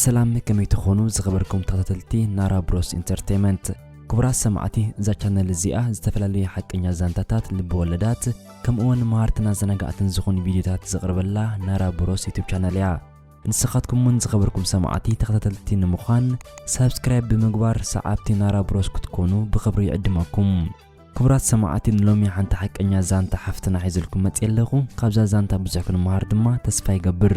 ሰላም ከመይ ትኾኑ ዝኸበርኩም ተኸታተልቲ ናራ ብሮስ ኢንተርቴመንት ክቡራት ሰማዕቲ እዛ ቻነል እዚኣ ዝተፈላለዩ ሓቀኛ ዛንታታት ልቢ ወለዳት ከምኡውን መሃርትን ኣዘናጋዕትን ዝኾኑ ቪድዮታት ዘቕርበላ ናራ ብሮስ ዩቱብ ቻነል እያ ንስኻትኩም እውን ዝኸበርኩም ሰማዕቲ ተኸታተልቲ ንምዃን ሳብስክራይብ ብምግባር ሰዓብቲ ናራ ብሮስ ክትኮኑ ብኽብሪ ይዕድመኩም ክቡራት ሰማዕቲ ንሎሚ ሓንቲ ሓቀኛ ዛንታ ሓፍትና ሒዘልኩም መፅየ ኣለኹ ካብዛ ዛንታ ብዙሕ ክንመሃር ድማ ተስፋ ይገብር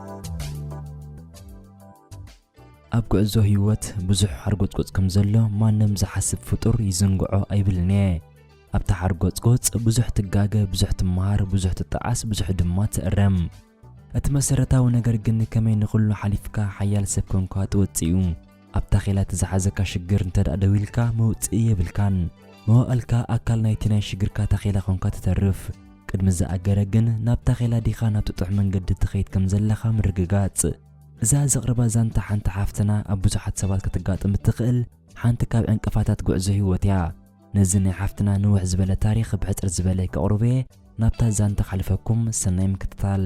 ኣብ ጉዕዞ ህይወት ብዙሕ ሓርጎጽጎጽ ከም ዘሎ ማንም ዝሓስብ ፍጡር ይዝንግዖ ኣይብልን እየ። ኣብቲ ሓርጎጽጎጽ ብዙሕ ትጋገ፣ ብዙሕ ትመሃር፣ ብዙሕ ትጠዓስ፣ ብዙሕ ድማ ትእረም። እቲ መሰረታዊ ነገር ግን ከመይ ንኹሉ ሓሊፍካ ሓያል ሰብ ኮንካ ትወጽእ እዩ። ኣብ ታኼላ እቲ ዝሓዘካ ሽግር እንተድኣ ደው ኢልካ መውጽኢ የብልካን። መዋእልካ ኣካል ናይቲ ናይ ሽግርካ ታኼላ ኰንካ ትተርፍ። ቅድሚ ዝኣገረ ግን ናብ ታኼላ ዲኻ ናብቲ ጥዑም መንገዲ ትኸይድ ከም ዘለኻ ምርግጋጽ። እዛ ዘቕርባ ዛንታ ሓንቲ ሓፍትና ኣብ ብዙሓት ሰባት ከተጋጥም እትኽእል ሓንቲ ካብ ዕንቅፋታት ጉዕዞ ህይወት እያ። ነዚ ናይ ሓፍትና ንውሕ ዝበለ ታሪኽ ብሕጽር ዝበለ ከቕርቦ'የ ናብታ ዛንታ ከሕልፈኩም። ሰናይ ምክትታል።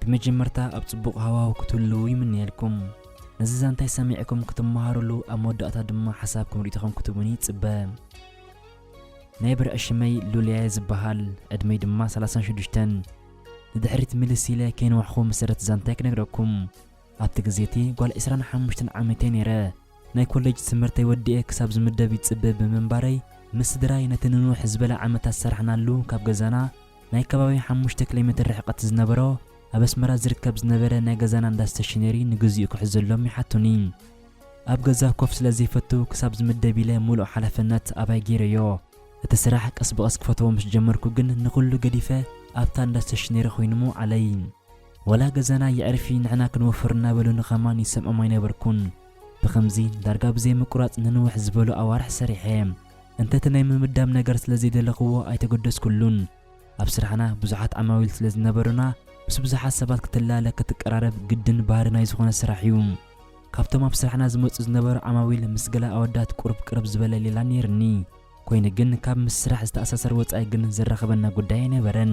ብመጀመርታ ኣብ ጽቡቕ ሃዋሁ ክትህልዉ ይምነየልኩም። ነዚ ዛንታይ ሰሚዕኩም ክትመሃሩሉ ኣብ መወዳእታ ድማ ሓሳብኩም ሪኢቶኹም ክትቡኒ ይጽበ። ናይ ብርዒ ሽመይ ሉልያየ ዝበሃል ዕድመይ ድማ ሰላሳን ሽዱሽተን። ንድሕሪት ምልስ ኢለ ከይንዋሕኹ መሰረት ዛንታይ ክነግረኩም። ኣብቲ ግዜ እቲ ጓል ዕስራን ሓሙሽተን ዓመተይ ነይረ። ናይ ኮለጅ ትምህርተይ ወዲኤ ክሳብ ዝምደብ ይጽበ ብምንባረይ፣ ምስ ስድራይ ነቲ ንንውሕ ዝበለ ዓመታት ዝሰራሕናሉ ካብ ገዛና ናይ ከባቢ ሓሙሽተ ኪሎሜትር ርሕቀት ዝነበሮ ኣብ ኣስመራ ዝርከብ ዝነበረ ናይ ገዛና እንዳ ስተሽነሪ ንግዚኡ ክሕዘሎም ይሓቱኒ። ኣብ ገዛ ኮፍ ስለ ዘይፈቱ ክሳብ ዝምደብ ኢለ ምሉእ ሓላፍነት ኣባይ ገይረዮ። እቲ ስራሕ ቀስ ብቐስ ክፈትዎ ምስ ጀመርኩ ግን ንኹሉ ገዲፈ ኣብታ እንዳ ስተሽነሪ ኮይኑ ምውዓለይ። ወላ ገዛና የዕርፊ ንሕና ክንወፍር እናበሉ ንከማን ይሰምዖም ኣይነበርኩን። ብኸምዚ ዳርጋ ብዘይምቁራጽ ንንውሕ ዝበሉ ኣዋርሕ ሰሪሐ። እንተ'ቲ ናይ ምምዳብ ነገር ስለ ዘይደለኹዎ ኣይተገደስኩሉን። ኣብ ስራሕና ብዙሓት ዓማዊል ስለ ዝነበሩና ምስ ብዙሓት ሰባት ክትላለ ክትቀራረብ ግድን ባህሪ ናይ ዝኾነ ስራሕ'ዩ። ካብቶም ኣብ ስራሕና ዝመጹ ዝነበሩ ዓማዊል ምስ ገለ ኣወዳት ቁሩብ ቅርብ ዝበለ ሌላ ነይሩኒ። ኮይኑ ግን ካብ ምስ ስራሕ ዝተኣሳሰር ወጻኢ ግን ዘራኽበና ጉዳይ ኣይነበረን።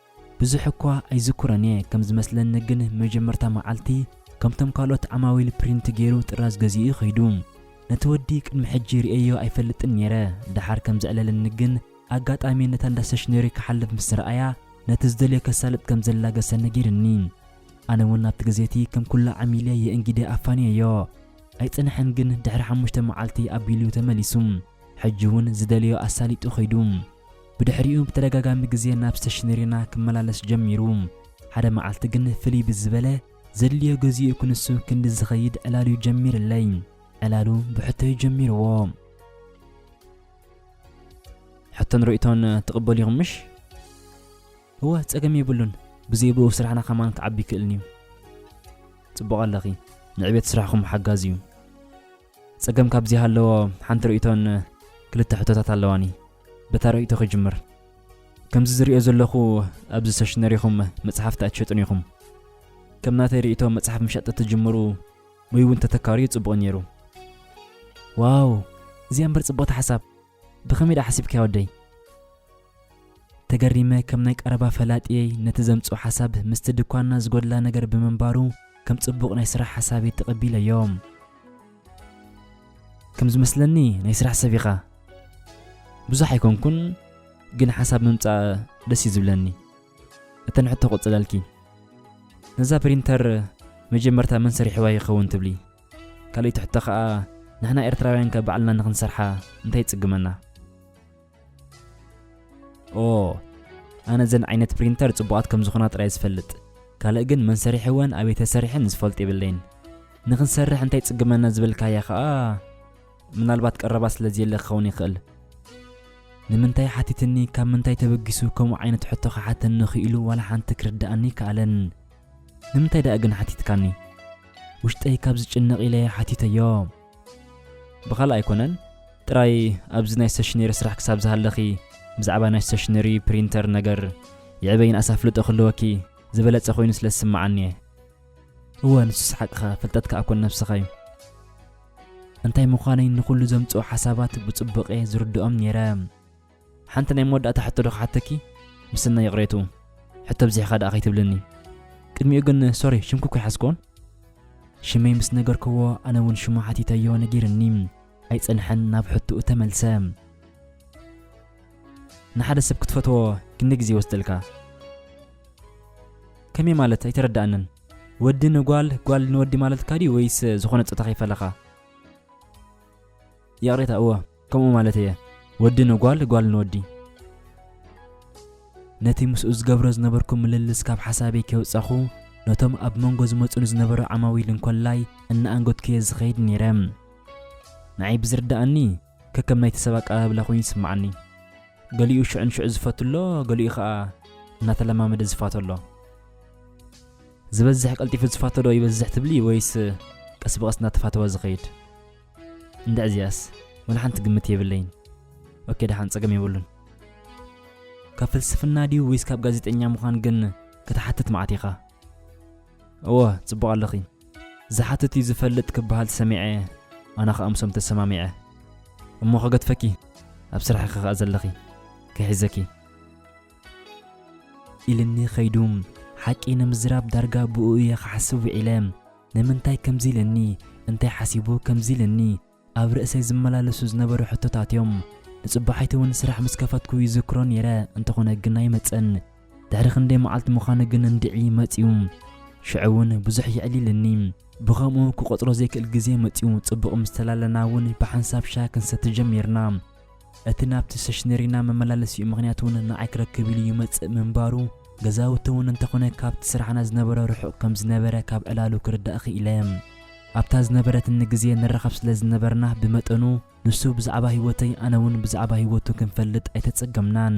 ብዙሕ እኳ ኣይዝክሮን እየ ከም ዝመስለኒ ግን መጀመርታ መዓልቲ ከምቶም ካልኦት ዓማዊል ፕሪንት ጌሩ ጥራዝ ገዚኡ እዩ ከይዱ ነቲ ወዲ ቅድሚ ሕጂ ሪኤዮ ኣይፈልጥን ኔረ ደሓር ከም ዘዕለለኒ ግን ኣጋጣሚ ነታ እንዳ ሰሽነሪ ክሓልፍ ምስ ረኣያ ነቲ ዝደልዮ ከሳልጥ ከም ዘላገሰ ነጊርኒ ኣነ ውን ኣብቲ ግዜ እቲ ከም ኩሉ ዓሚለ እየ እንጊደ ኣፋንየዮ ኣይጸንሐን ግን ድሕሪ ሓሙሽተ መዓልቲ ኣቢሉ ተመሊሱ ሕጂ ውን ዝደልዮ ኣሳሊጡ ከይዱ ብድሕሪኡ ብተደጋጋሚ ግዜ ናብ ስተሽነሪና ክመላለስ ጀሚሩ። ሓደ መዓልቲ ግን ፍልይ ብዝበለ፣ ዘድልዮ ገዚኡ ክንሱ ክንዲ ዝኸይድ ዕላል'ዩ ጀሚርለይ። ዕላሉ ብሕቶ'ዩ ጀሚርዎ። ሕቶን ርእይቶን ትቕበሉ ኢኹም ምሽ? እወ፣ ጸገም የብሉን። ብዘይ ብኡ ስራሕና ከማን ክዓቢ ይክእልን'ዩ። ጽቡቕ ኣለኺ። ንዕቤት ስራሕኹም ሓጋዚ'ዩ። ጸገም ካብዚ ሃለዎ ሓንቲ ርእይቶን ክልተ ሕቶታት ኣለዋኒ። በታ ርእይቶ ክጅምር። ከምዚ ዝርእዮ ዘለኹ ኣብዚ ሰሽነሪኹም መጽሓፍቲ ኣይትሸጡን ኢኹም። ከም ናተይ ርእይቶ መጽሓፍ ምሻጥ ተትጅምሩ ወይ እውን ተተካርዩ ጽቡቕ ነይሩ። ዋው እዚኣ እምበር ጽብቕቲ ሓሳብ። ብኸመይ ደኣ ሓሲብካዮ ወደይ? ተገሪመ ከም ናይ ቀረባ ፈላጥየይ ነቲ ዘምጽኦ ሓሳብ ምስቲ ድኳንና ዝጎድላ ነገር ብምንባሩ ከም ጽቡቕ ናይ ስራሕ ሓሳብይ ተቐቢለዮ። ከም ዝመስለኒ ናይ ስራሕ ሰብ ኢኻ። ብዙሕ ኣይኮንኩን ግን ሓሳብ ምምጻእ ደስ እዩ ዝብለኒ። እተን ሕቶ ክቕጽለልኪ። ነዛ ፕሪንተር መጀመርታ መን ሰሪሕዋ ይኸውን ትብሊ? ካልኢት ሕቶ ከኣ ንሕና ኤርትራውያን ከ ባዕልና ንክንሰርሓ እንታይ ይጽግመና? ኦ ኣነ ዘን ዓይነት ፕሪንተር ጽቡቓት ከም ዝኾና ጥራይ ዝፈልጥ ካልእ ግን መን ሰሪሕወን ኣበይ ተሰሪሐን ዝፈልጥ የብለይን። ንክንሰርሕ እንታይ ይጽግመና ዝበልካያ ከኣ ምናልባት ቀረባ ስለ ዘየለ ክኸውን ይኽእል። ንምንታይ ሓቲትኒ ካብ ምንታይ ተበጊሱ ከምኡ ዓይነት ሕቶ ክሓተኒ ክኢሉ ዋላ ሓንቲ ክርድኣኒ ኣይከኣለን። ንምንታይ ደኣ ግን ሓቲትካኒ? ውሽጠይ ካብ ዝጭነቕ ኢለ ሓቲተዮ። ብኻልእ ኣይኮነን፣ ጥራይ ኣብዚ ናይ ስቴሽነሪ ስራሕ ክሳብ ዝሃለኺ ብዛዕባ ናይ ስቴሽነሪ ፕሪንተር ነገር የዕበይን ኣስ ኣፍልጦ ክህልወኪ ዝበለጸ ኮይኑ ስለ ዝስምዓኒ እየ። እወ ንሱስ ሓቅኻ፣ ፍልጠትካ ኣኮን ነብስኻ እዩ። እንታይ ምዃነይ ንኹሉ ዘምጽኦ ሓሳባት ብጽቡቕ እየ ዝርድኦም ነይረ። ሓንቲ ናይ መወዳእታ ሕቶ ዶ ክሓተኪ? ምስናይ ይቕሬትኡ፣ ሕቶ ኣብዚሕኻ ደኣ ከይትብልኒ። ቅድሚኡ ግን ሶሪ ሽምኩ እኮ ኣይሓዝክዎን። ሽመይ ምስ ነገርክዎ ኣነ ውን ሽሙ ሓቲተዮ ነጊርኒ። ኣይጸንሐን ናብ ሕትኡ ተመልሰ። ንሓደ ሰብ ክትፈትዎ ክንደይ ግዜ ይወስደልካ? ከመይ ማለት ኣይተረዳኣንን? ወዲ ንጓል ጓል ንወዲ ማለትካ ድዩ ወይስ ዝኾነ ጾታ ከይፈለኻ? ይቕሬታ እወ። ከምኡ ማለት እየ ወዲ ንጓል ጓል ንወዲ። ነቲ ምስኡ ዝገብሮ ዝነበርኩ ምልልስ ካብ ሓሳበይ ከይወጻኹ ነቶም ኣብ መንጎ ዝመጹኒ ዝነበሩ ዓማዊል እንኮላይ እናኣንገድኩየ ዝኸይድ ነይረ። ንዓይ ብዝርድኣኒ ከከም ናይቲ ሰብ ኣቀባብላ ኮይኑ ይስምዓኒ። ገሊኡ ሽዑ ንሽዑ ዝፈቱ ኣሎ፣ ገሊኡ ኸኣ እናተለማመደ ዝፋቶ ኣሎ። ዝበዝሕ ቀልጢፉ ዝፋቶ ዶ ይበዝሕ ትብሊ ወይስ ቀስ ብቐስ እናተፋተወ ዝኸይድ? እንድዒ እዚኣስ ወላ ሓንቲ ግምት የብለይን ኦኬ ደሓን ጸገም የብሉን ካብ ፍልስፍና ድዩ ወይስ ካብ ጋዜጠኛ ምዃን ግን ክትሓትት መዓት ኢኻ እወ ጽቡቕ ኣለኺ ዝሓትት እዩ ዝፈልጥ ክበሃል ሰሚዐ ኣና ከዓ ምሶም ተሰማሚዐ እሞ ከገድፈኪ ኣብ ስራሕኺ ከዓ ዘለኺ ክሒዘኪ ኢልኒ ኸይዱ ሓቂ ንምዝራብ ዳርጋ ብኡ እየ ክሓስብ ውዒለ ንምንታይ ከምዚ ኢለኒ፣ እንታይ ሓሲቡ ከምዚ ኢለኒ፣ ኣብ ርእሰይ ዝመላለሱ ዝነበሩ ሕቶታት እዮም። ንጽባሒቱ እውን ስራሕ ምስ ከፈትኩ ይዝክሮ ነይረ፣ እንተኾነ ግን ኣይመጸን። ድሕሪ ክንደይ መዓልቲ ምዃኑ ግን እንድዒ መጺኡ። ሽዑ እውን ብዙሕ የዕሊልኒ። ብኸምኡ ክቖጽሮ ዘይክእል ግዜ መጺኡ፣ ጽቡቕ ምስ ተላለና እውን ብሓንሳብ ሻሂ ክንሰቲ ጀሚርና። እቲ ናብቲ ሰሽነሪና መመላለሲኡ ምኽንያት እውን ንዓይ ክረክብ ኢሉ ይመፅእ ምንባሩ፣ ገዛውቲ እውን እንተኾነ ካብቲ ስራሕና ዝነበረ ርሑቕ ከም ዝነበረ ካብ ዕላሉ ክርዳእ ክኢለ። ኣብታ ዝነበረትኒ ግዜ ንራኸብ ስለ ዝነበርና ብመጠኑ ንሱ ብዛዕባ ህይወተይ ኣነ እውን ብዛዕባ ህይወቱ ክንፈልጥ ኣይተፀገምናን።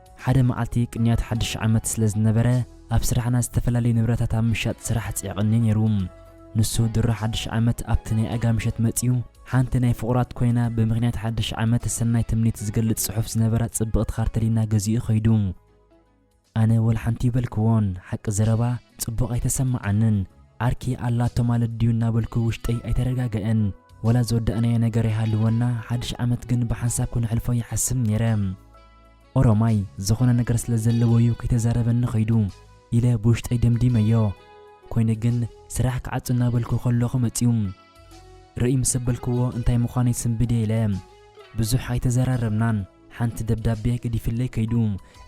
ሓደ መዓልቲ ቅንያት ሓድሽ ዓመት ስለ ዝነበረ፣ ኣብ ስራሕና ዝተፈላለዩ ንብረታት ኣብ ምሻጥ ስራሕ ጽዒቕኒ ነይሩ። ንሱ ድሮ ሓድሽ ዓመት ኣብቲ ናይ ኣጋ ምሸት መጺኡ ሓንቲ ናይ ፍቑራት ኮይና ብምኽንያት ሓድሽ ዓመት ሰናይ ትምኒት ዝገልጽ ጽሑፍ ዝነበራ ጽብቕቲ ካርተሊና ገዚኡ ከይዱ። ኣነ ወልሓንቲ እይበልክዎን፣ ሓቂ ዘረባ ጽቡቕ ኣይተሰማዓንን። ዓርኪ ኣላቶ ማለት ድዩ እናበልኩ ውሽጠይ ኣይተረጋገእን። ወላ ዝወዳእናዮ ነገር ይሃልወና ሓድሽ ዓመት ግን ብሓንሳብ ክነሕልፎ ይሓስብ ነይረ። ኦሮማይ ዝኾነ ነገር ስለ ዘለዎ እዩ ከይተዛረበኒ ከይዱ ኢለ ብውሽጠይ ደምዲመዮ። ኮይኑ ግን ስራሕ ክዓጹ እናበልኩ ከለኹ መጺኡ። ርእይ ምስ ኣበልክዎ እንታይ ምዃኑ ይስንብድ እየ ኢለ። ብዙሕ ኣይተዘራረብናን። ሓንቲ ደብዳቤ ገዲፍለይ ከይዱ።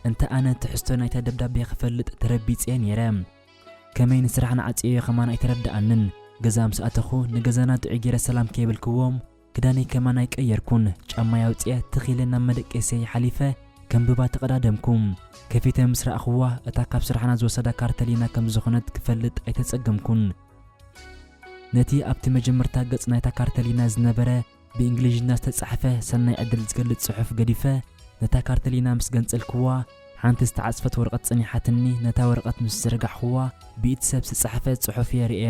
እንተ ኣነ ትሕዝቶ ናይታ ደብዳቤ ክፈልጥ ተረቢጸ እየ ነይረ። ከመይ ንስራሕ ንዓጽየዮ ከማን ኣይተረድኣንን። ገዛ ምስ ኣተኹ ንገዛና ጥዑይ ገይረ ሰላም ከይበልክዎ፣ ክዳነይ ከማን ኣይቀየርኩን ጫማይ ኣውጺኣ ትኽ ኢለ ናብ መደቀሲየይ ሓሊፈ ከም ብባ ተቐዳደምኩ። ከፊተ ምስ ረኣኹዋ እታ ካብ ስራሕና ዝወሰዳ ካርተሊና ከም ዝኾነት ክፈልጥ ኣይተጸገምኩን። ነቲ ኣብቲ መጀመርታ ገጽ ናይታ ካርተሊና ዝነበረ ብእንግሊዥኛ ዝተጻሕፈ ሰናይ ዕድል ዝገልጽ ጽሑፍ ገዲፈ ነታ ካርተሊና ምስ ገንጸልኩዋ ሓንቲ ዝተዓጽፈት ወረቐት ጸኒሓትኒ ነታ ወረቐት ምስ ዘርጋሕኹዋ ብኢድ ሰብ ዝተጻሕፈ ጽሑፍ እየ ርእየ።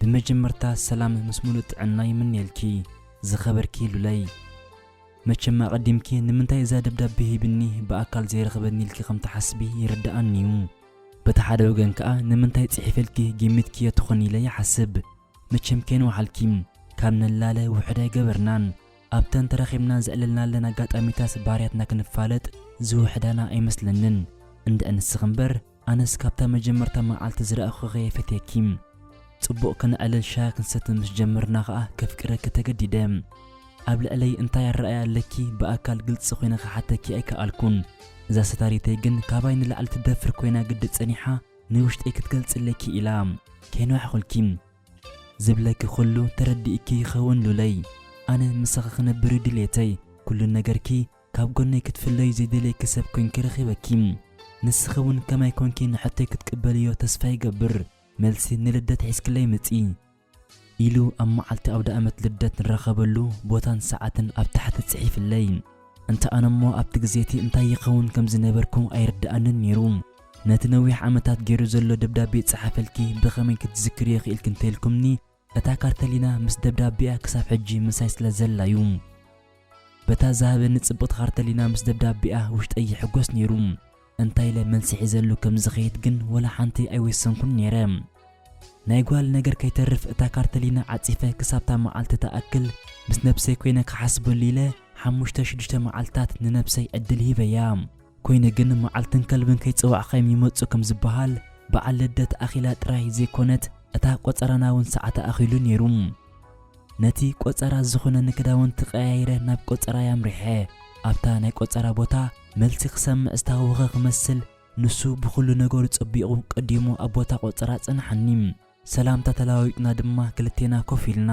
ብመጀመርታ ሰላም ምስ ሙሉእ ጥዕና ይምነየልኪ ዝኸበርኪ ሉለይ። መቸም ኣቐዲምኪ ንምንታይ እዛ ደብዳቤ ሂብኒ ብኣካል ዘይረኽበኒ ኢልኪ ከም ትሓስቢ ይርደኣኒ እዩ። በቲ ሓደ ወገን ከኣ ንምንታይ ጽሒፈልኪ ጊሚትክዮ ትኾኒ ኢለ ይሓስብ። መቸም ከይንወሓልኪ ካብ ንላለ ውሑድ ኣይገበርናን። ኣብተን ተራኺብና ዘዕለልናለን ኣጋጣሚታት ባህርያትና ክንፋለጥ ዝውሕዳና ኣይመስለንን። እንድዒ ንስኺ እምበር ኣነስ ካብታ መጀመርታ መዓልቲ ዝረኣኹኺ'የ ፈትየኪ። ጽቡቕ ከነዕልል ሻሂ ክንሰቲ ምስ ጀመርና ከኣ ከፍቅረኪ ተገዲደ። ኣብ ልዕለይ እንታይ ኣረኣእያ ኣለኪ ብኣካል ግልጺ ኮይነ ክሓተኪ ኣይከኣልኩን። እዛ ሰታሪተይ ግን ካባይ ንላዕሊ ትደፍር ኮይና ግዲ ጸኒሓ ናይ ውሽጠይ ክትገልጽለይ ክኢላ። ከይንዋሕኹልኪ። ዝብለኪ ኩሉ ተረዲእኪ ይኸውን ሉለይ። ኣነ ምሳኺ ክነብር'ዩ ድልየተይ። ኩሉ ነገርኪ ካብ ጎነይ ክትፍለዩ ዘይደልየኪ ሰብ ኮንኪ ረኺበኪ ንስኺ ውን ከማይ ኮንኪ ንሕቶይ ክትቅበልዮ ተስፋ ይገብር መልሲ ንልደት ሒዝክለይ ምጺ ኢሉ ኣብ መዓልቲ ኣውደኣመት ልደት ንራኸበሉ ቦታን ሰዓትን ኣብ ታሕቲ ጽሒፍለይ እንተ ኣነሞ ኣብቲ ግዜቲ እንታይ ይኸውን ከም ዝነበርኩ ኣይርደኣንን ኔሩ ነቲ ነዊሕ ዓመታት ጌሩ ዘሎ ደብዳቤ ጸሓፈልኪ ብኸመይ ክትዝክርዮ ክኢልኪ እንተኢልኩምኒ እታ ካርተሊና ምስ ደብዳቤኣ ክሳብ ሕጂ ምሳይ ስለ ዘላ ዩ። በታ ዝሃበኒ ጽብቕቲ ካርተሊና ምስ ደብዳቤኣ ውሽጠይ ይሕጎስ ኔሩ። እንታይ ኢለ መልሲ ሒዘሉ ከም ዝኸይድ ግን ወላ ሓንቲ ኣይወሰንኩን ኔረ። ናይ ጓል ነገር ከይተርፍ እታ ካርተሊና ዓጺፈ ክሳብ'ታ መዓልቲ ትኣክል ምስ ነብሰይ ኮይነ ክሓስበሉ ኢለ ሓሙሽተ ሽዱሽተ መዓልትታት ንነብሰይ ዕድል ሂበያ። ኮይኑ ግን መዓልትን ከልብን ከይጸዋዕካዮም ይመጹ ከም ዝበሃል፣ በዓል ልደት ኣኺላ ጥራይ ዘይኮነት እታ ቆጸራና'ውን ሰዓታ ኣኺሉ ነይሩ። ነቲ ቆጸራ ዝኹነኒ ክዳውንቲ ቀያይረ ናብ ቆጸራይ ኣምሪሐ። ኣብታ ናይ ቆጸራ ቦታ መልሲ ክሰምዕ ዝተሃወኸ ክመስል፣ ንሱ ብኹሉ ነገሩ ጸቢቑ ቀዲሙ ኣብ ቦታ ቆጸራ ኣጸንሓኒ። ሰላምታ ተለዋዊጥና ድማ ክልቴና ኮፍ ኢልና።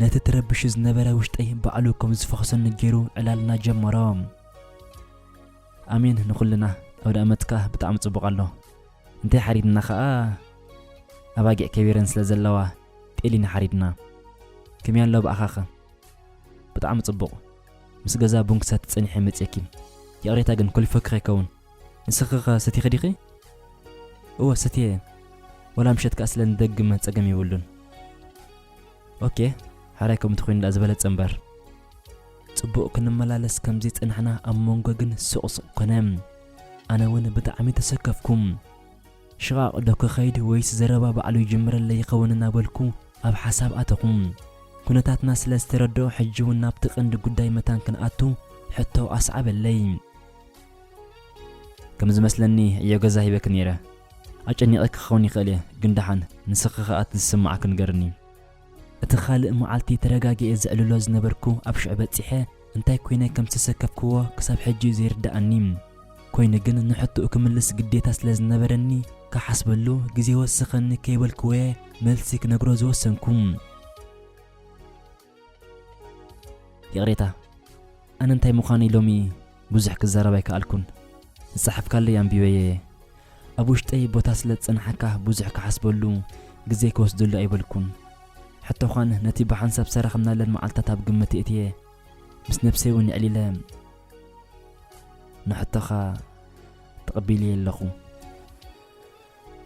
ነቲ ትረብሹ ዝነበረ ውሽጠይ ባዕሉ ከም ዝፈኹሰኒ ገይሩ ዕላልና ጀመሮ። ኣሜን ንኹልና ኣውደኣመት ከኣ ብጣዕሚ ጽቡቕ ኣሎ እንታይ ሓሪድና ከኣ ኣባጊዕ ከቢረን ስለ ዘለዋ ጤሊና ሓሪድና ከመይ ኣሎ ብኣኻኸ ብጣዕሚ ጽቡቕ ምስ ገዛ ቡን ክሰቲ ጸኒሐ መጽኪ ይቕሬታ ግን ኮሊፈኪ ከይከውን ንስኺ ከ ሰቲኺ ዲኺ? እወ ሰትየ ወላ ምሸት ከኣ ስለ ንደግም ጸገም የብሉን። ኦኬ ሕራይ ከምኡ እንተኾይኑ ደኣ ዝበለጸ እምበር። ጽቡቕ ክንመላለስ ከምዚ ጸናሕና ኣብ መንጎ ግን ሱቕ ሱቕ ኮነ። ኣነ ውን ብጣዕሚ ተሰከፍኩ። ሽቓቕ ዶ ክኸይድ ወይስ ዘረባ ባዕሉ ይጅምረለይ ይኸውን እናበልኩ ኣብ ሓሳብ ኣተኹ። ኩነታትና ስለ ዝተረድኦ ሕጂ ውን ናብቲ ቀንዲ ጉዳይ መታን ክንኣቱ ሕቶ ኣስዓበለይ። ከም ዝመስለኒ ዕዮ ገዛ ሂበኪ ነይረ ኣጨኒቐኪ ክኸውን ይኽእል እየ ግን ደሓን ንስኺ ኸኣ እቲ ዝስምዓኪ ንገርኒ። እቲ ኻልእ መዓልቲ ተረጋጊኤ ዘዕልሎ ዝነበርኩ ኣብ ሽዑ በጺሐ እንታይ ኰይነ ከም ዝተሰከፍክዎ ክሳብ ሕጂ እዩ ዘይርድኣኒ። ኰይኑ ግን ንሕቶኡ ክምልስ ግዴታ ስለ ዝነበረኒ ክሓስበሉ ግዜ ወስኸኒ ከይበልክዎ'የ መልሲ ክነግሮ ዝወሰንኩ። ይቕሬታ ኣነ እንታይ ምዃነይ ሎሚ ብዙሕ ክዛረብ ኣይከኣልኩን ዝጸሓፍካለይ ኣንቢበየ እየ ኣብ ውሽጠይ ቦታ ስለ ዝጸንሓካ ብዙሕ ክሓስበሉ ግዜ ክወስደሉ ኣይበልኩን ሕቶዃን ነቲ ብሓንሳብ ሰረኽናለን መዓልትታት ኣብ ግምት እትየ ምስ ነብሰይ እውን የዕሊለ ንሕቶኻ ተቐቢልየ ኣለኹ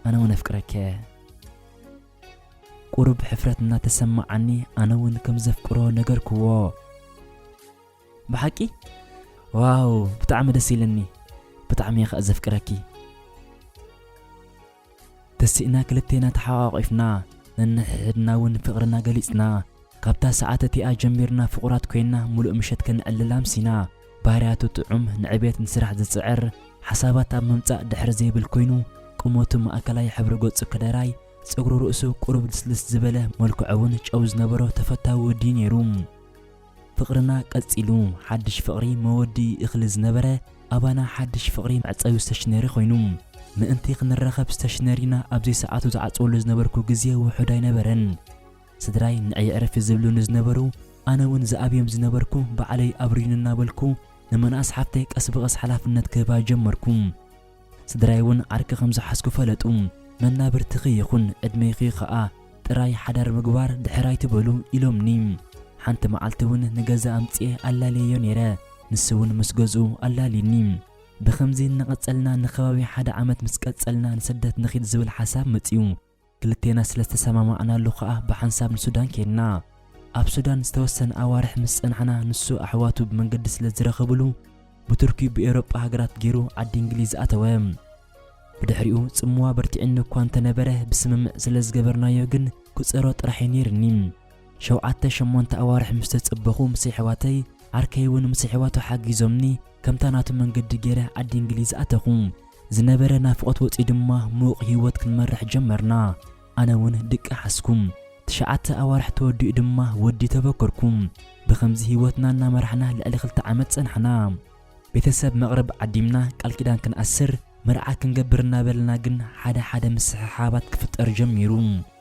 ኣነ እውን ኣፍቅረከ ቁሩብ ሕፍረት እናተሰማዓኒ ኣነ እውን ከም ዘፍቅሮ ነገርክዎ። ብሓቂ ዋው ብጣዕሚ ደስ ኢልኒ ብጣዕሚ እየ ከኣ ዘፍቅረኪ። ተሲእና ክልቴና ተሓቛቒፍና ነንሕሕድና እውን ፍቕርና ገሊጽና። ካብታ ሰዓት እቲኣ ጀሚርና ፍቑራት ኮይና ምሉእ ምሸት ከነዕልል ኣምሲና። ባህርያቱ ጥዑም፣ ንዕቤት ንስራሕ ዝጽዕር፣ ሓሳባት ኣብ ምምጻእ ድሕር ዘይብል ኮይኑ፣ ቁመቱ ማእከላይ፣ ሕብሪ ገጹ ከደራይ፣ ጸጉሪ ርእሱ ቁሩብ ልስልስ ዝበለ፣ መልክዑ'ውን ጨው ዝነበሮ ተፈታዊ ወዲ'ዩ ነይሩ። ፍቕርና ቀጺሉ። ሓድሽ ፍቕሪ መወድኢ እኽሊ ዝነበረ ኣባና ሓድሽ ፍቕሪ መዕጸዊ ስተሽነሪ ኮይኑ። ምእንቲ ክንራኸብ ስተሽነሪና ኣብ ዘይሰዓቱ ዝዓጽወሉ ዝነበርኩ ግዜ ውሑድ ኣይነበረን። ስድራይ ንዒ ዕረፊ ዝብሉኒ ዝነበሩ ኣነ ውን ዝኣብዮም ዝነበርኩ ባዕለይ ኣብርዩኒ እናበልኩ ንመንኣስ ሓፍተይ ቀስ ብቐስ ሓላፍነት ክህባ ጀመርኩ። ስድራይ ውን ዓርኪ ከም ዝሓዝኩ ፈለጡ። መናብርትኺ ይኹን ዕድሜኺ ኸኣ ጥራይ ሓዳር ምግባር ድሕር ኣይትበሉ ኢሎምኒ። ሓንቲ መዓልቲ ውን ንገዛ ኣምጺኤ ኣላልየዮ ነይረ፣ ንሱ ውን ምስ ገዝኡ ኣላልዩኒ። ብኸምዚ እናቐጸልና ንከባቢ ሓደ ዓመት ምስ ቀጸልና ንስደት ንኺድ ዝብል ሓሳብ መጽዩ። ክልቴና ስለ ዝተሰማማዕናሉ ከኣ ብሓንሳብ ንሱዳን ኬድና። ኣብ ሱዳን ዝተወሰነ ኣዋርሕ ምስ ጸናሕና ንሱ ኣሕዋቱ ብመንገዲ ስለ ዝረኸብሉ ብቱርኪ ብኤውሮጳ ሃገራት ጌሩ ዓዲ እንግሊዝ ኣተወ። ብድሕሪኡ ጽምዋ ኣበርቲዑኒ እኳ እንተ ነበረ ብስምምዕ ስለ ዝገበርናዮ ግን ክጸሮ ጥራሕ'ዩ ኔሩኒ። ሸውዓተ ሸሞንተ ኣዋርሕ ምስ ተጸበኹ ምስ ኣሕዋተይ፣ ዓርከይ'ውን ምስ ኣሕዋቱ ሓጊዞምኒ ከምታ ናቱ መንገዲ ጌረ ዓዲ እንግሊዝ ኣተኹ። ዝነበረ ናፍቖት ወጺኡ ድማ ምዉቕ ህይወት ክንመርሕ ጀመርና። ኣነ ውን ድቂ ሓዝኩ። ትሽዓተ ኣዋርሕ ተወዲኡ ድማ ወዲ ተበከርኩ። ብኸምዚ ህይወትና እናመራሕና ልዕሊ ክልተ ዓመት ጸናሕና። ቤተሰብ መቕርብ ዓዲምና ቃል ኪዳን ክንኣስር፣ መርዓ ክንገብር እናበልና ግን ሓደ ሓደ ምስሕሓባት ክፍጠር ጀሚሩ።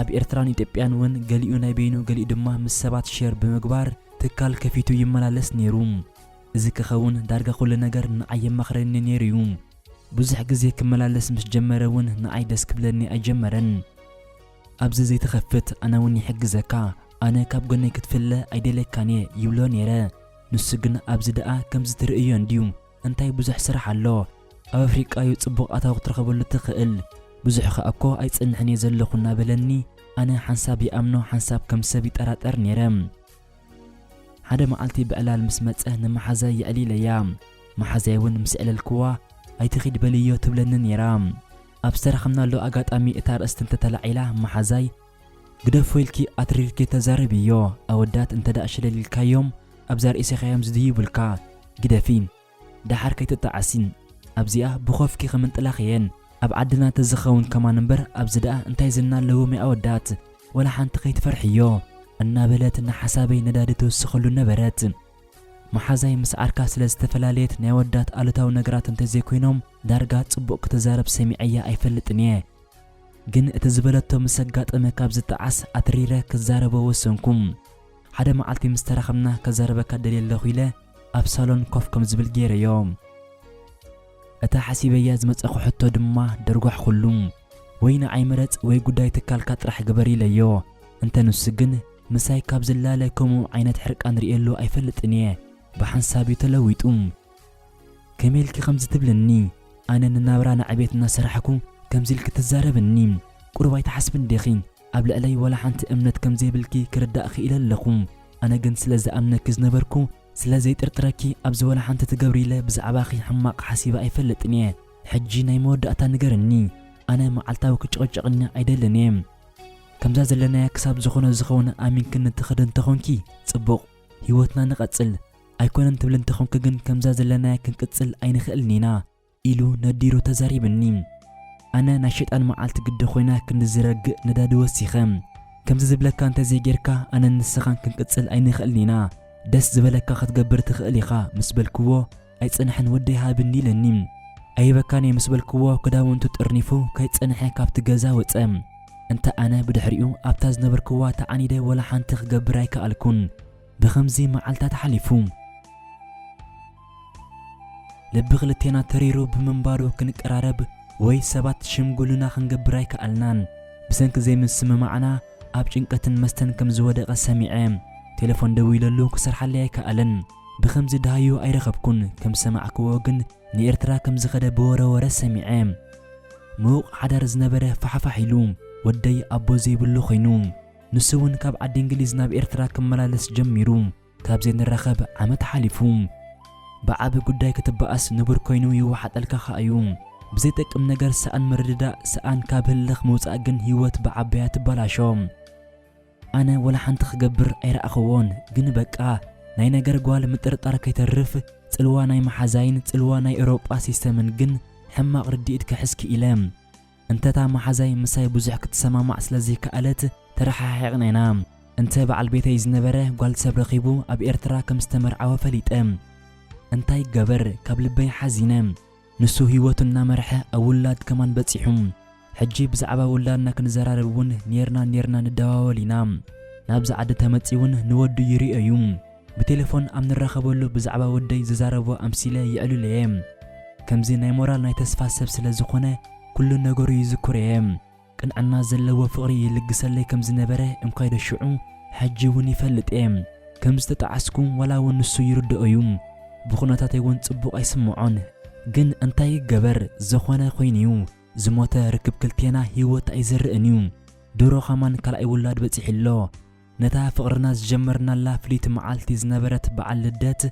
ኣብ ኤርትራን ኢትዮጵያን ውን ገሊኡ ናይ በይኑ ገሊኡ ድማ ምስ ሰባት ሼር ብምግባር ትካል ከፊቱ ይመላለስ ኔሩ። እዚ ክኸውን ዳርጋ ኩሉ ነገር ንዓይ የማኽረኒ ኔሩ'ዩ። ብዙሕ ግዜ ክመላለስ ምስ ጀመረ ውን ንዓይ ደስ ክብለኒ ኣይጀመረን። ኣብዚ ዘይትኸፍት ኣነ ውን ይሕግዘካ፣ ኣነ ካብ ጎነይ ክትፍለ ኣይደልየካን'የ ይብሎ ኔረ። ንሱ ግን ኣብዚ ደኣ ከምዚ ትርእዮ እንድዩ፣ እንታይ ብዙሕ ስራሕ ኣሎ ኣብ ኣፍሪቃ ዩ ጽቡቅ ኣታዊ ክትረኽበሉ ትኽእል ብዙሕ ከኣ እኮ ኣይጸንሕን እየ ዘለኹ እናበለኒ ኣነ ሓንሳብ ይኣምኖ ሓንሳብ ከም ሰብ ይጠራጠር ኔረ ሓደ መዓልቲ ብዕላል ምስ መጸ ንመሓዛይ የዕሊለያ መሓዛይ ውን ምስ ኣዕለልክዋ ኣይትኺድ በልዮ ትብለኒ ኔራ ኣብ ዝተራኸብናሉ ኣጋጣሚ እታ ኣርእስቲ እንተተላዒላ መሓዛይ ግደፎ ኢልኪ ኣትሪርኪ ተዛረብዮ ኣወዳት እንተ ሽለል ኢልካዮም ኣብዛ ርእሲካዮም ዝድይቡልካ ግደፊ ዳሓር ከይትጣዓሲ ኣብዚኣ ብኮፍኪ ክምንጥላክ እየን ኣብ ዓድና ተዝከውን ከማን እምበር ኣብዚ ዳኣ እንታይ ዝና ኣለዎም ያኣወዳት ወላ ሓንቲ ከይትፈርሕዮ እናበለት ንሓሳበይ ነዳዲ ትውስከሉ ነበረት ማሓዛይ ምስ ዓርካ ስለ ዝተፈላለየት ናይ ኣወዳት ኣሉታዊ ነገራት እንተዘይኮይኖም ዳርጋ ጽቡቅ ክትዛረብ ሰሚዐያ ኣይፈልጥን እየ ግን እቲ ዝበለቶ ምስ ኣጋጠመ ካብ ዝጠዓስ ኣትሪረ ክዛረቦ ወሰንኩ። ሓደ መዓልቲ ምስ ተራኸብና ከዛርበካ ደልየ ኣለኹ ኢለ ኣብ ሳሎን ኮፍ ከም ዝብል ገይረዮ። እታ ሓሲበያ ዝመጸኹ ሕቶ ድማ ደርጓሕኩሉ። ወይ ንዓይ ምረጽ ወይ ጉዳይ ትካልካ ጥራሕ ግበር ኢለዮ። እንተ ንሱ ግን ምሳይ ካብ ዝላለ ከምኡ ዓይነት ሕርቃን ርእየሉ ኣይፈልጥን እየ። ብሓንሳብ እዩ ተለዊጡ። ከመይ ኢልኪ ከምዚ ትብልኒ ኣነ ንናብራ ንዕቤት እናሰራሕኩ ከምዚ ኢልኪ ትዛረብኒ ቁሩብ ኣይትሓስብን ዲኺ ኣብ ልዕለይ ዋላ ሓንቲ እምነት ከም ዘይብልኪ ክርዳእ ኪኢለ ኣለኹ ኣነ ግን ስለ ዝኣምነኪ ዝነበርኩ ስለ ዘይጥርጥረኪ ኣብዚ ዋላ ሓንቲ ትገብሪ ኢለ ብዛዕባኺ ሕማቕ ሓሲበ ኣይፈልጥን እየ ሕጂ ናይ መወዳእታ ንገርኒ ኣነ መዓልታዊ ክጭቕጭቕኒ ኣይደልን እየ ከምዛ ዘለናያ ክሳብ ዝኾነ ዝኸውን ኣሚንክኒ ትኸዲ እንተኾንኪ ጽቡቕ ሂወትና ንቐጽል ኣይኮነን ትብል እንተኾንኪ ግን ከምዛ ዘለናያ ክንቅጽል ኣይንኽእልን ኢና ኢሉ ነዲሩ ተዛሪብኒ። ኣነ ናይ ሸጣን መዓልቲ ግዲ ኮይና ክንዲ ዝረግእ ነዳዲ ወሲኸ ከምዚ ዝብለካ እንተዘይጌርካ ኣነን ንስኻን ክንቅጽል ኣይንኽእልን ኢና ደስ ዝበለካ ክትገብር ትኽእል ኢኻ ምስ በልክዎ ኣይጸንሐን ወደይ ሃብኒ ኢለኒ። ኣይህበካን እየ ምስ በልክዎ ክዳውንቱ ጠርኒፉ ከይጸንሐ ካብቲ ገዛ ወጸ። እንተ ኣነ ብድሕሪኡ ኣብታ ዝነበርክዋ ተዓኒደ ወላ ሓንቲ ክገብር ኣይከኣልኩን። ብኸምዚ መዓልታት ሓሊፉ። ልቢ ክልቴና ተሪሩ ብምንባሩ ክንቀራረብ ወይ ሰባት ሽምግሉና ክንገብር ኣይከኣልናን። ብሰንኪ ዘይምስምማዕና ኣብ ጭንቀትን መስተን ከም ዝወደቐ ሰሚዐ። ቴለፎን ደዊለሉ ክሰርሓለይ ኣይከኣለን። ብኸምዚ ደሃዩ ኣይረኸብኩን። ከም ዝሰማዕክዎ ግን ንኤርትራ ከም ዝኸደ ብወረ ወረ ሰሚዐ። ምዉቕ ሓዳር ዝነበረ ፋሕፋሕ ኢሉ ወደይ ኣቦ ዘይብሉ ኮይኑ። ንሱ እውን ካብ ዓዲ እንግሊዝ ናብ ኤርትራ ክመላለስ ጀሚሩ ካብ ዘይንራኸብ ዓመት ሓሊፉ። ብዓቢ ጉዳይ ክትበኣስ ንቡር ኮይኑ ይወሓጠልካ ከኣ እዩ። ብዘይጠቅም ነገር ሰኣን ምርድዳእ፣ ሰኣን ካብ ህልኽ ምውጻእ ግን ህይወት ብዓባያ ትበላሾ። ኣነ ወላ ሓንቲ ክገብር ኣይረኣኹዎን፣ ግን በቃ ናይ ነገር ጓል ምጥርጣር ከይተርፍ ጽልዋ ናይ መሓዛይን ጽልዋ ናይ ኤውሮጳ ሲስተምን ግን ሕማቕ ርድኢት ክሕዝ ክኢለ። እንተ እታ መሓዛይ ምሳይ ብዙሕ ክትሰማማዕ ስለ ዘይከኣለት ተረሓሒቕና ኢና። እንተ በዓል ቤተይ ዝነበረ ጓል ሰብ ረኺቡ ኣብ ኤርትራ ከም ዝተመርዓወ ፈሊጠ። እንታይ ይገበር ካብ ልበይ ሓዚነ። ንሱ ህይወቱ እናመርሐ ኣብ ውላድ ከማን በጺሑ። ሕጂ ብዛዕባ ውላድና ክንዘራረብ እውን ኔርና ኔርና ንደዋወል ኢና። ናብዚ ዓዲ ተመጺኡ እውን ንወዱ ይርእዮ እዩ። ብቴለፎን ኣብ ንራኸበሉ ብዛዕባ ወደይ ዝዛረቦ ኣምሲለ የዕልሎ'የ። ከምዚ ናይ ሞራል ናይ ተስፋ ሰብ ስለ ዝኾነ ኩሉ ነገሩ ይዝክሮ'የ። ቅንዕና ዘለዎ ፍቕሪ ይልግሰለይ ከም ዝነበረ እንኳይዶ ሽዑ ሕጂ'ውን ይፈልጥ'የ። ከም ዝተጠዓስኩ ዋላ'ውን ንሱ ይርድኦ'ዩ። ብኹነታተይ'ውን ጽቡቕ ኣይስምዖን። ግን እንታይ ይገበር ዝኾነ ኮይኑ'ዩ ዝሞተ ርክብ ክልቴና ህይወት ኣይዘርእን'ዩ። ድሮ ኸማን ካልኣይ ውላድ በጺሑ'ሎ። ነታ ፍቕርና ዝጀመርናላ ፍልይቲ መዓልቲ ዝነበረት በዓል ልደት፣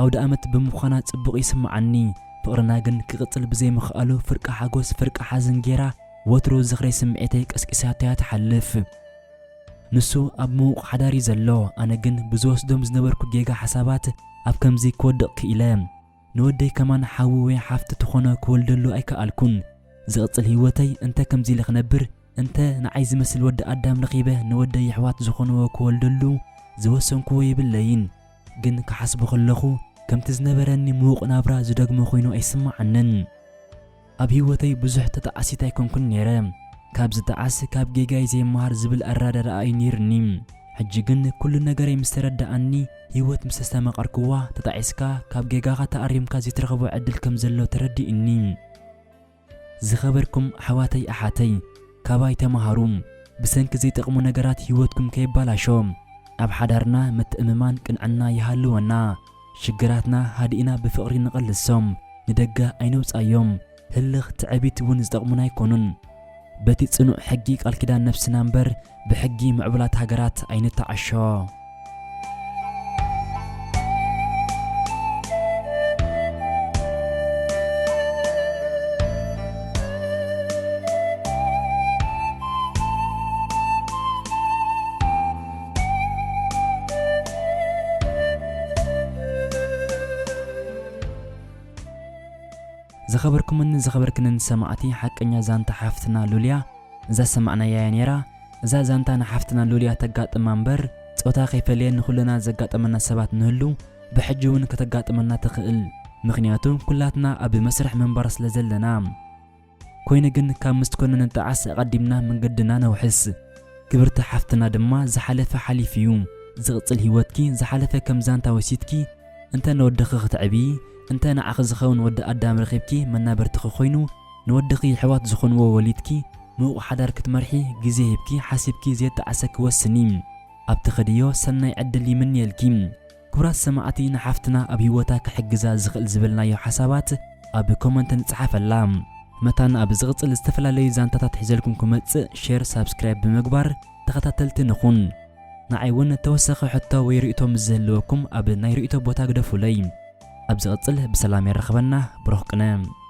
ኣውደኣመት ብምዃና ጽቡቕ ይስምዓኒ። ፍቕርና ግን ክቕጽል ብዘይምኽኣሉ ፍርቂ ሓጎስ ፍርቂ ሓዘን ገይራ ወትሩ ዝኽሪ ስምዒተይ ቀስቂሳቶ'ያ ትሓልፍ። ንሱ ኣብ ምዉቕ ሓዳር'ዩ ዘሎ፣ ኣነ ግን ብዝወስዶም ዝነበርኩ ጌጋ ሓሳባት ኣብ ከምዚ ክወድቕ ክኢለ። ንወደይ ከማን ሓዊ ወይ ሓፍቲ ትኾኖ ክወልደሉ ኣይከኣልኩን። ዝቕጽል ህይወተይ እንተ ከምዚ ኢለ ክነብር እንተ ንዓይ ዝመስል ወዲ ኣዳም ረኺበ ንወደይ የሕዋት ዝኾንዎ ክወልደሉ ዝወሰንኩዎ የብለይን። ግን ክሓስቦ ከለኹ ከምቲ ዝነበረኒ ምዉቕ ናብራ ዝደግሞ ኮይኑ ኣይስመዓንን። ኣብ ሂወተይ ብዙሕ ተጣዓሲት ኣይኮንኩን ኔረ ካብ ዝጣዓስ ካብ ጌጋይ ዘይመሃር ዝብል ኣራዳድኣ እዩ ኔሩኒ ሕጂ ግን ኩሉ ነገረይ ምስ ተረዳኣኒ ሂወት ምስ ኣስተማቀርክዋ ተጣዒስካ ካብ ጌጋኻ ተኣሪምካ ዘይትረኽቦ ዕድል ከም ዘሎ ተረዲኡኒ ዝኸበርኩም ኣሕዋተይ ኣሓተይ ካባይ ተማሃሩ ብሰንኪ ዘይጠቅሙ ነገራት ሂወትኩም ከይባላሾ ኣብ ሓዳርና ምትእምማን ቅንዕና ይሃልወና። ሽግራትና ሃዲእና ብፍቕሪ ንቐልሶም፣ ንደገ ኣይነውጽኣዮም። ህልኽ፣ ትዕቢት እውን ዝጠቕሙና ኣይኮኑን። በቲ ጽኑዕ ሕጊ ቃል ኪዳን ነፍስና እምበር ብሕጊ ምዕቡላት ሃገራት ኣይንተዓሾ። ዝኸበርኩምን ዝኸበርክንን ሰማዕቲ ሓቀኛ ዛንታ ሓፍትና ሉልያ እዛ ሰማዕናያ እያ ነይራ እዛ ዛንታ ንሓፍትና ሉልያ ተጋጥማ እምበር ጾታ ከይፈለየ ንኹልና ዘጋጠመና ሰባት ንህሉ ብሕጂ እውን ከተጋጥመና ትኽእል ምኽንያቱ ኩላትና ኣብ መስርሕ ምንባር ስለ ዘለና ኮይኑ ግን ካብ ምስ ኮነ ንጣዓስ ኣቀዲምና መንገድና ነውሕስ ክብርቲ ሓፍትና ድማ ዝሓለፈ ሓሊፉ እዩ ዝቅጽል ሂወትኪ ዝሓለፈ ከም ዛንታ ወሲድኪ እንተ ንወድኺ ክትዕብዪ እንተ ንዓኺ ዝኸውን ወዲ ኣዳም ረኺብኪ መናበርትኺ ኮይኑ ንወድኺ የሕዋት ዝኾንዎ ወሊድኪ ምዉቅ ሓዳር ክትመርሒ ግዜ ሂብኪ ሓሲብኪ ዘየጣዓሰኪ ወስኒ ኣብ ትኸድዮ ሰናይ ዕድል ይምንየልኪ። ክቡራት ሰማዕቲ ንሓፍትና ኣብ ሂወታ ክሕግዛ ዝኽእል ዝበልናዮ ሓሳባት ኣብ ኮመንት ንጽሓፈላ። መታን ኣብ ዝቕጽል ዝተፈላለዩ ዛንታታት ሒዘልኩም ክመጽእ ሼር ሳብስክራይብ ብምግባር ተኸታተልቲ ንኹን። ንዓይ ውን ተወሳኺ ሕቶ ወይ ርእይቶ ምስ ዝህልወኩም ኣብ ናይ ርእይቶ ቦታ ግደፉለይ። ኣብ ዝቕጽል ብሰላም የራኽበና ብሩኽ ቅነ።